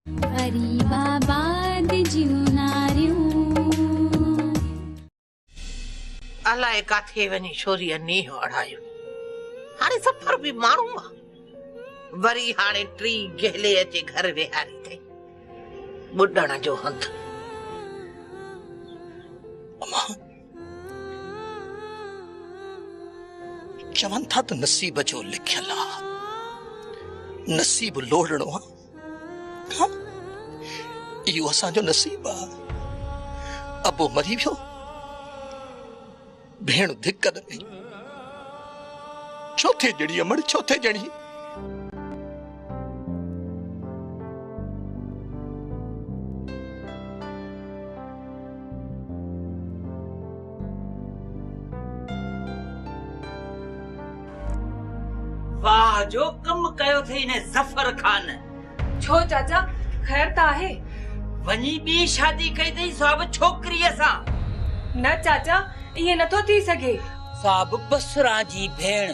غريب آباد جون ناريون. الائي ڪاٿي وڃي ڇوريء نينهن اڙايو. هاڻي سفر به ماڻهو آ. وري هاڻي ٽي گهلي اچي گهر ويهاري اٿئي. ٻڏڻ جو هنڌ. امان! چون ٿا ته نصيب جو لکيل آ. نصيب لوڙڻو آ. اهو اسان جو نصيب آ. ابو مري ويو، ڀيڻ ڌڪ ڏني، ڇو ٿي ڄڻي امڙ ڇو ٿي ڄڻي. واهه جو ڪم ڪيو ٿئي انهي ظفر خان. ڇو چاچا خير ته آهي. وڃي ٻي شادي ڪئي ٿئي سا به ڇوڪريء سان. نه چاچا ائين نٿو ٿي سگهي. سا به بسران جي ڀيڻ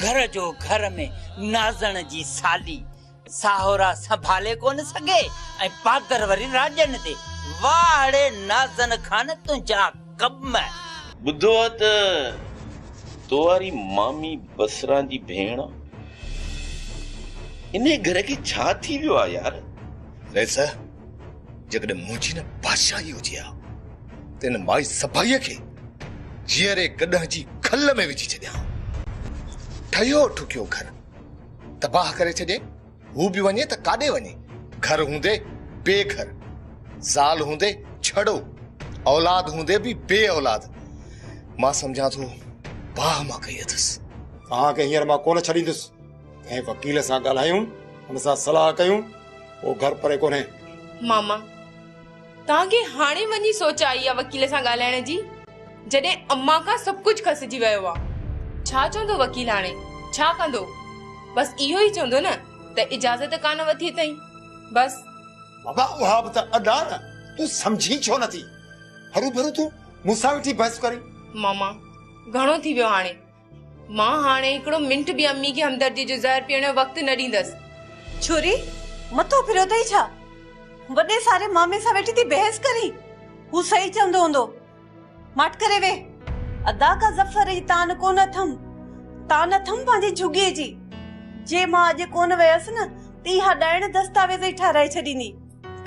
گهر جو گهر ۾ نازڻ جي سالي. ساهورا سنڀالي ڪونه سگهي ۽ پادر وري راڄن تي. واهڙي نازن خان تنهنجا ڪم. ٻڌو آ ته تو واري مامي بصران جي ڀيڻ انهي گهر کي ڇا ٿي ويو آ يار. ويساهه جيڪڏهن منهنجي نه بادشاهي هجي ها ته ان مائي سڀائيء کي جيئري گڏهه جي کل ۾ وجهي ڇڏيان ها. ٺهيو ٺڪيو گهر تباهه ڪري ڇڏي، هو به وڃي ته ڪاڏي وڃي، گهر هوندي بي گهر، زال هوندي ڇڙو، اولاد هوندي به بي اولاد، مان سمجهان ٿو باهه مان ڪئي اٿس. توهان کي هينئر مان ڪونه ڇڏيندس، ڪنهن وڪيل سان ڳالهايون، ان سان صلاح ڪيون، اهو گهر پري ڪونهي. ماما! توهان کي هاڻي وڃي سوچ آئي آهي وڪيل سان ڳالهائڻ جي؟ جڏهن امان کان سڀ ڪجهه کسجي ويو آهي. ڇا چوندو وڪيل هاڻي؟ ڇا ڪندو؟ بس اهو ئي چوندو نه ته اجازت ڪانه وٺي اٿئين. بس. بابا اها به ته ادا نه، تون سمجهين ڇو نٿي؟ هروڀرو تون مون سان ويٺي بحث ڪرين. ماما گهڻو ٿي ويو هاڻي. مان هاڻي هڪڙو منٽ به امي کي همدردي جو زهر پيئڻ جو وقت نه ڏيندس. ڇوري مٿو ڦريو اٿئي ڇا؟ وڏي ساري مامي سان ويٺي ٿي بحث ڪرين؟ هو صحيح چوندو هوندو. ماٺ ڪري ويهه. ادا ڪا ظفر جي تان ڪونه اٿم. تان اٿم پنهنجي جهڳيء جي. جي مان اڄ ڪونه ويس نه ته اها ڏائڻ دستاويز ئي ٺهرائي ڇڏيندي.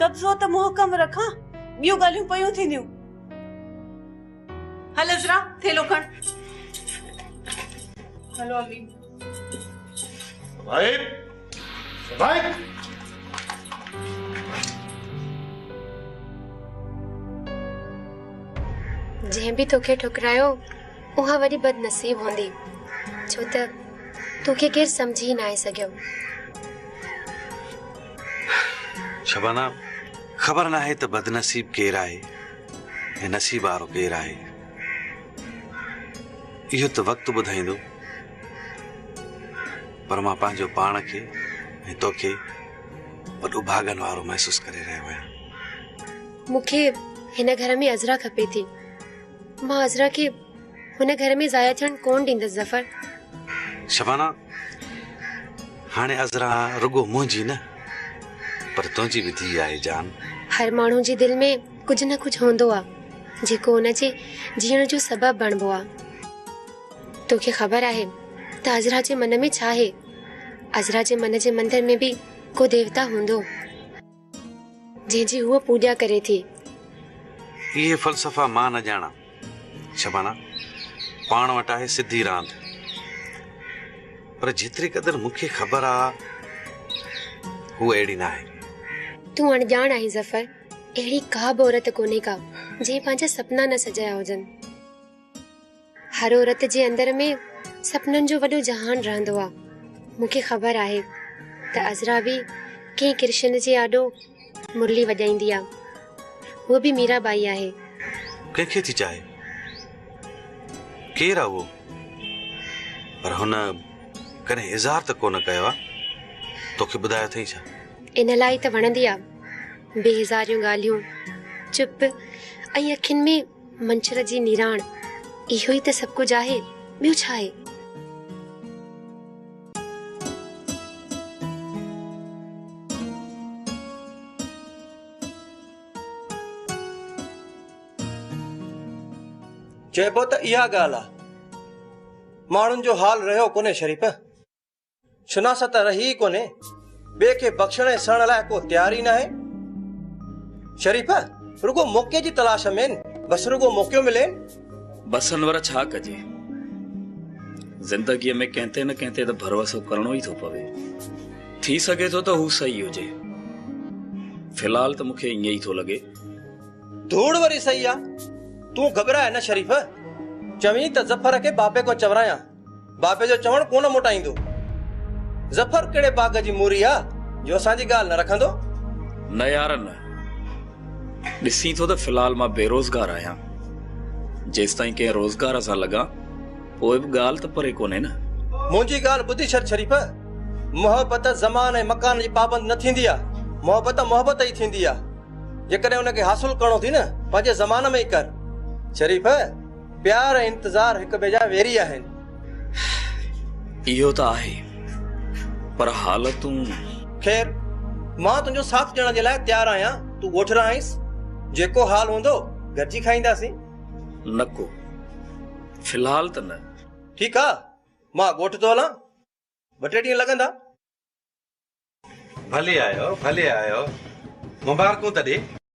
قبضو ته محڪم رکان، ٻيون ڳالهيون پيون ٿينديون. هل عذرا ٿيلهو کڻ. هلو امي. صبائي صبائي. جنهن به توکي ٺڪرايو اها وڏي بدنصيب هوندي ڇو ته توکي کي سمجهي ئي ناهي سگهيو شبانا خبر ناهي ته بدنصيب ڪير آهي هي نصيب وارو ڪير آهي، اهو ته وقت ٻڌائيندو، پر مان پنهنجو پاڻ کي ۽ توکي وڏو ڀاڳن وارو محسوس ڪري رهيو آهيان. مون کي هن گهر ۾ عذرا کپي ٿي. مان عذرا کي هن گهر ۾ ضايع ٿيڻ ڪونه ڏيندس ظفر. شبانه، هاڻي عذرا رڳو منهنجي نه، پر تنهنجي به ڌيء آهي جان. هر ماڻهو جي دل ۾ ڪجهه نه ڪجهه هوندو آ جيڪو ان جي جيئڻ جو سبب بڻبو آ. توکي خبر آهي ته عذرا جي من ۾ ڇا هي؟ عذرا جي من جي مندر ۾ به ڪو ديوتا هوندو جنهن جي هوء پوڄا ڪري ٿي. اهي فلسفا مان نه ڄاڻان. شبانا، پاڻ وٽ آهي سڌي راند. پر جيتري قدر مون کي خبر آ هوء اهڙي ناهي. تون اڻڄاڻ آهين ظفر. اهڙي ڪا به عورت ڪونهي ڪا جنهن پنهنجا سپنا نه سجايا هجن. هر عورت جي اندر ۾ سپنن جو وڏو جهان رهندو آ. مون کي خبر آهي ته عذرا به ڪنهن ڪرشن جي آڏو مرلي وڄائيندي آ. هوء به ميرا ٻائي آهي. ڪنهن کي ٿي چاهي؟ ڪير آ اهو؟ پر هن ڪڏهن اظهار ته ڪونه ڪيو آ. توکي ٻڌايو اٿئي ڇا؟ ان لاء ئي ته وڻندي آ. بي هزاريون ڳالهيون، چپ ۽ اکين ۾ منڇر جي نيراڻ، اهو ئي ته سڀ ڪجهه آهي، ٻيو ڇا آهي؟ چئبو ته اها ڳالهه آ. ماڻهن جو حال رهيو ڪونهي شريف. شناست ته رهي ئي ڪونهي، ٻئي کي بخشڻ ۽ سهڻ لاء ڪو تيار ئي ناهي. شريف رڳو موقعي جي تلاش ۾، بس رڳو موقعو ملين. بسن ور ڇا ڪجي، زندگيء ۾ ڪنهن تي نه ڪنهن تي ته ڀروسو ڪرڻو ئي ٿو پوي. ٿي سگهي ٿو ته هو صحيح هجي. في الحال ته مون کي ائين ئي ٿو لڳي. ڌوڙ وري صحيح آ، تون گهٻرائي نه شريف. چوين ته ظفر کي بابي ڪو چورايان. بابي جو چوڻ ڪونه موٽائيندو. ظفر ڪهڙي باغ جي موري آ جو اسان جي ڳالهه نه رکندو. نه يار نه. ڏسين ٿو ته في الحال مان بيروزگار آهيان. جيستائين ڪنهن روزگار سان لڳان پوء به ڳالهه ته پري ڪونهي نه. منهنجي ڳالهه ٻڌ شر شريف. محبت زمان ۽ مڪان جي پابند نه ٿيندي آ. محبت محبت ئي ٿيندي آ. جيڪڏهن ان کي حاصل ڪرڻو اٿئي نه پنهنجي زمان ۾ ئي ڪر. شريف! پيار ۽ انتظار هڪ ٻئي جا ويري آهن. اهو ته آهي پر حالتون. خير مان تنهنجو ساٿ ڏيڻ جي لاء تيار آهيان تون ڳوٺ رهائينس جيڪو حال هوندو گڏجي کائينداسين. نه ڪو في الحال ته نه. ٺيڪ آ مان ڳوٺ ٿو هلان ٻه ٽي ڏينهن لڳندا. ڀلي آيو ڀلي آيو مبارڪون ته ڏي.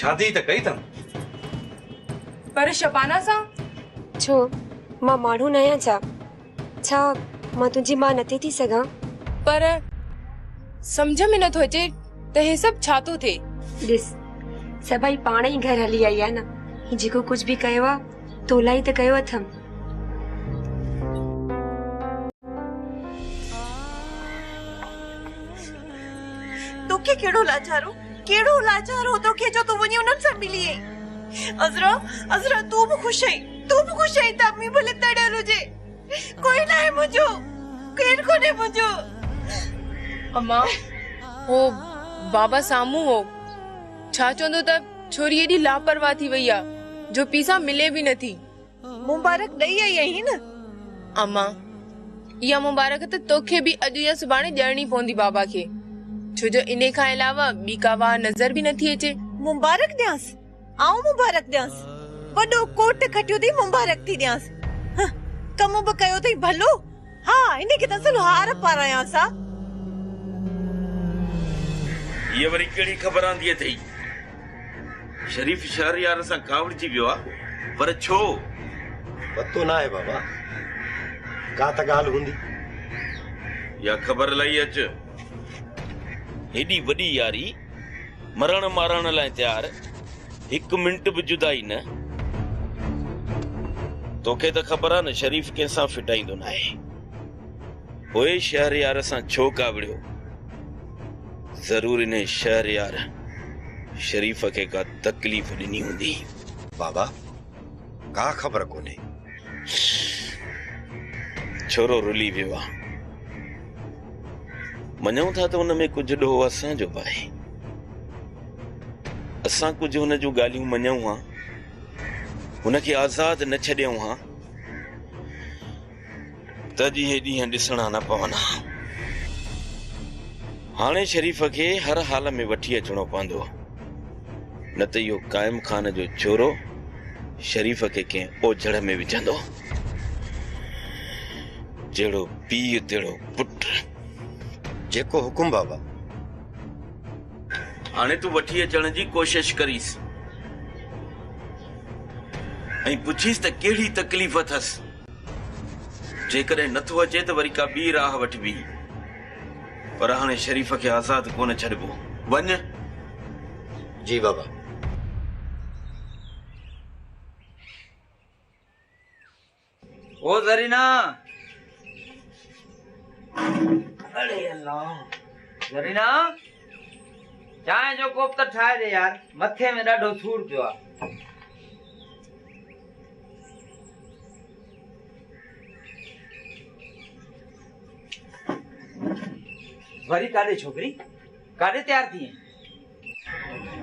شادي ته ڪئي اٿم. پر شبانه سان؟ ڇو مان ماڻهو ناهيان ڇا؟ ڇا مان تنهنجي ماء نٿي ٿي سگهان؟ پر سمجهه ۾ نٿو اچي ته هي سڀ ڇا ٿو ٿئي؟ ڏس سڀئي پاڻ ئي گهر هلي آئي آهي نه. هي جيڪو ڪجهه به ڪيو آهي تو لاء ئي ته ڪيو اٿم. توکي ڪهڙو لاچارو؟ ڪهڙو لاچار هو توکي جو تون وڃي انهن سان ملي آئين. عذرا، عذرا تون به خوش آهين، تون به خوش آهين ته امي ڀلي تڙيل هجي. ڪوئي ناهي منهنجو، ڪير ڪونهي منهنجو. امان، هو بابا سامهون هو. ڇا چوندو ته ڇوري ايڏي لاپرواهه ٿي وئي آهي جو پيء سان ملي به نٿي. مبارڪ ڏئي آئي آهين؟ امان، اها مبارڪ ته توکي به اڄ يا سڀاڻي ڏيڻي پوندي بابا کي، ڇو جو انهي کان علاوه ٻي ڪا واهه نظر به نٿي اچي. مبارڪ ڏيانس؟ آئون مبارڪ ڏيانس؟ وڏو ڪوٽ کٽيو اٿئي مبارڪ ٿي ڏيانس. هنه، ڪم به ڪيو اٿئي ڀلو. ها ان کي ته اصل هار پارايانس ها. هيء وري ڪهڙي خبر آندي اٿئي؟ شريف شهريار سان ڪاوڙجي ويو آ، پر ڇو؟ پتو ناهي بابا، ڪا ته ڳالهه هوندي. اها خبر لهي اچ. هيڏي وڏي ياري! مرڻ مارڻ لاء تيار هڪ منٽ به جدائي نه توکي ته خبر آ نه شريف ڪنهن سان ڦٽائيندو نه آهي پوء شهريار سان ڇو ڪاوڙيو ضرور انهي شهريار شريف کي ڪا تڪليف ڏني هوندي بابا ڪا خبر ڪونهي. ڇورو رلي ويو آ. مڃون ٿا ته ان ۾ ڪجهه ڏوهه اسان جو به آهي. اسان ڪجهه هن جون ڳالهيون مڃون ها. هن کي آزاد نه ڇڏيون ها. ته جي هي ڏينهن ڏسڻا نه پون ها. هاڻي شريف کي هر حال ۾ وٺي اچڻو پوندو. نه ته اهو قائم خان جو چورو شريف کي ڪنهن اوجهڙ ۾ وجهندو. جهڙو پيء تهڙو پٽ. جيڪو حڪم بابا. هاڻي تون وٺي اچڻ جي ڪوشش ڪريس ۽ پڇيس ته ڪهڙي تڪليف اٿس. جيڪڏهن نه ٿو اچي ته وري ڪا ٻي راهه وٺبي، پر هاڻي شريف کي آزاد ڪونه ڇڏبو. وڃ! جي بابا. او زرينا! اڙي الله! زرينا! چانهه جو ڪوپ ته ٺاهي ڏي يار مٿي ۾ ڏاڍو سور پيو آ. وري ڪاڏي ڇوڪري ڪاڏي تيار ٿي ائين.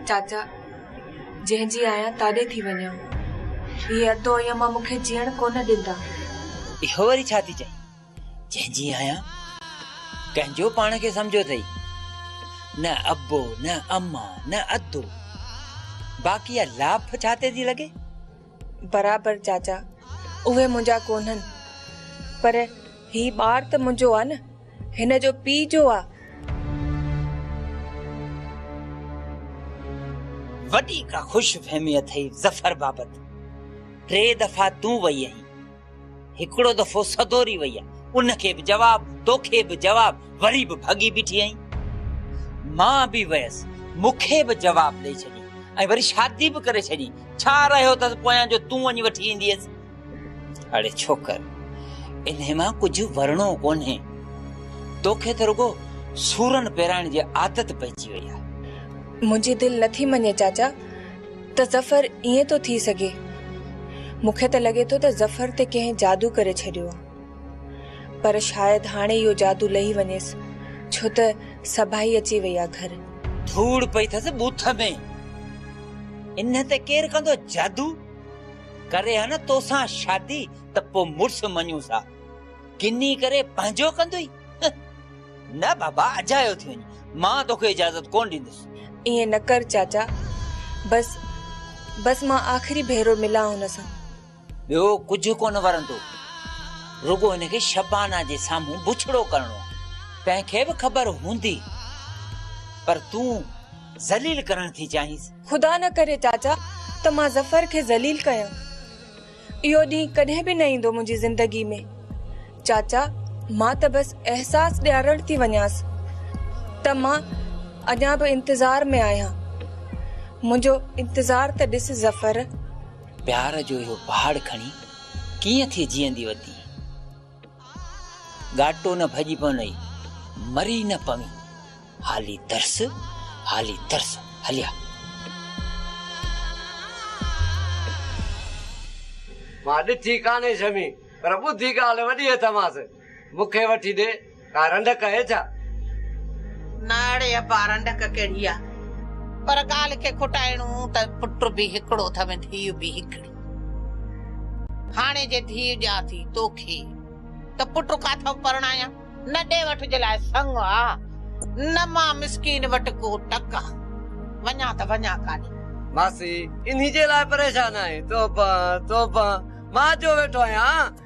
چاچا جنهن جي آهيان تاڏي ٿي وڃان هي ادو ائين مان مونکي جيئڻ ڪونه ڏيندا. اهو وري ڇا ٿي چئين. جنهن جي آهيان، ڪنهن جو پاڻ کي سمجهيو اٿئي؟ نه ابو، نه اما، نه ادو. باقي اها لاڦ ڇا تي ٿي لڳي؟ برابر چاچا، اهي منهنجا ڪونهن، پر هي ٻار ته منهنجو آ نه، هن جو پيء جو آ. وڏي ڪا خوش فهمي اٿئي ظفر بابت، ٽي دفعا تون وئي آهين. هڪڙو دفعو سدوري وئي آ، ان کي به جواب، توکي به جواب، وري به ڀڳي بيٺي آهين. مان به ويس، مون کي به جواب ڏئي ڇڏي ۽ وري شادي به ڪري ڇڏي، ڇا رهيو اٿس پويان جو تون وڃي وٺي اينديس؟ اڙي ڇوڪر، انهي مان ڪجهه ورڻو ڪونهي، توکي ته رڳو سورن پيرائڻ جي عادت پئجي وئي آ. منهنجي دل نٿي مڃي چاچا. ته ظفر ائين ٿو ٿي سگهي. مون کي ته لڳي ٿو ته ظفر تي ڪنهن جادو ڪري ڇڏيو آ. پر شايد هاڻي اهو جادو لهي وڃيس ڇو ته سڀائي اچي وئي آ گهر. ڌوڙ پئي ٿس بوٿ ۾. انهن تي ڪير ڪندو جادو؟ ڪري ها نه توسان شادي ته پوء مڙس مڃون ٿا. ڪني ڪري پنهنجو ڪندوئي. نه بابا اجايو ٿي وڃ مان توکي اجازت ڪون ڏيندس. ائين نه ڪر چاچا بس بس مان آخري ڀيرو ملان هن سان. ٻيو ڪجهه ڪونه ورندو رڳو هن کي شبانه جي سامهون بڇڙو ڪرڻو آ. تنهن کي به خبر هوندي پر تون ذليل ڪرڻ ٿي چاهينس. خدا نه ڪري چاچا ته مان ظفر کي ذليل ڪيان. اهو ڏينهن ڪڏهن به نه ايندو منهنجي زندگي ۾. چاچا مان ته بس احساس ڏيارڻ ٿي وڃانس ته مان اڃا به انتظار ۾ آهيان. منهنجو انتظار ته ڏس ظفر. پيار جو اهو پهاڙ کڻي ڪيئن ٿي جيئندي وتي. ڳاٽو نه ڀڄي پونئي، مري نه پوين، هالي ترس، هالي ترس، هليا. مان ڏٺي ڪانهي شمي، پر ٻڌي ڳالهه وڏيء ٿمانس، مون کي وٺي ڏي. ڪا رنڊڪ اهي ڇا؟ نه اڙي ابا رنڊڪ ڪهڙي آ. پر ڳالهه کي کٽائڻو ته پٽ به هڪڙو ٿم ڌيء به هڪڙي. هاڻي جي ڌيء ڏيان ٿي توکي ته پٽ ڪاٿو پرڻايان. نه ڏي وٺ جي لاء سڱ آ نه مان مسڪين وٽ ڪو ٽڪ آ. وڃان ته وڃان ڪاڏي. ماسي انهي جي لاء پريشان آهين. توبه توبه مان اچيو ويٺو آهيان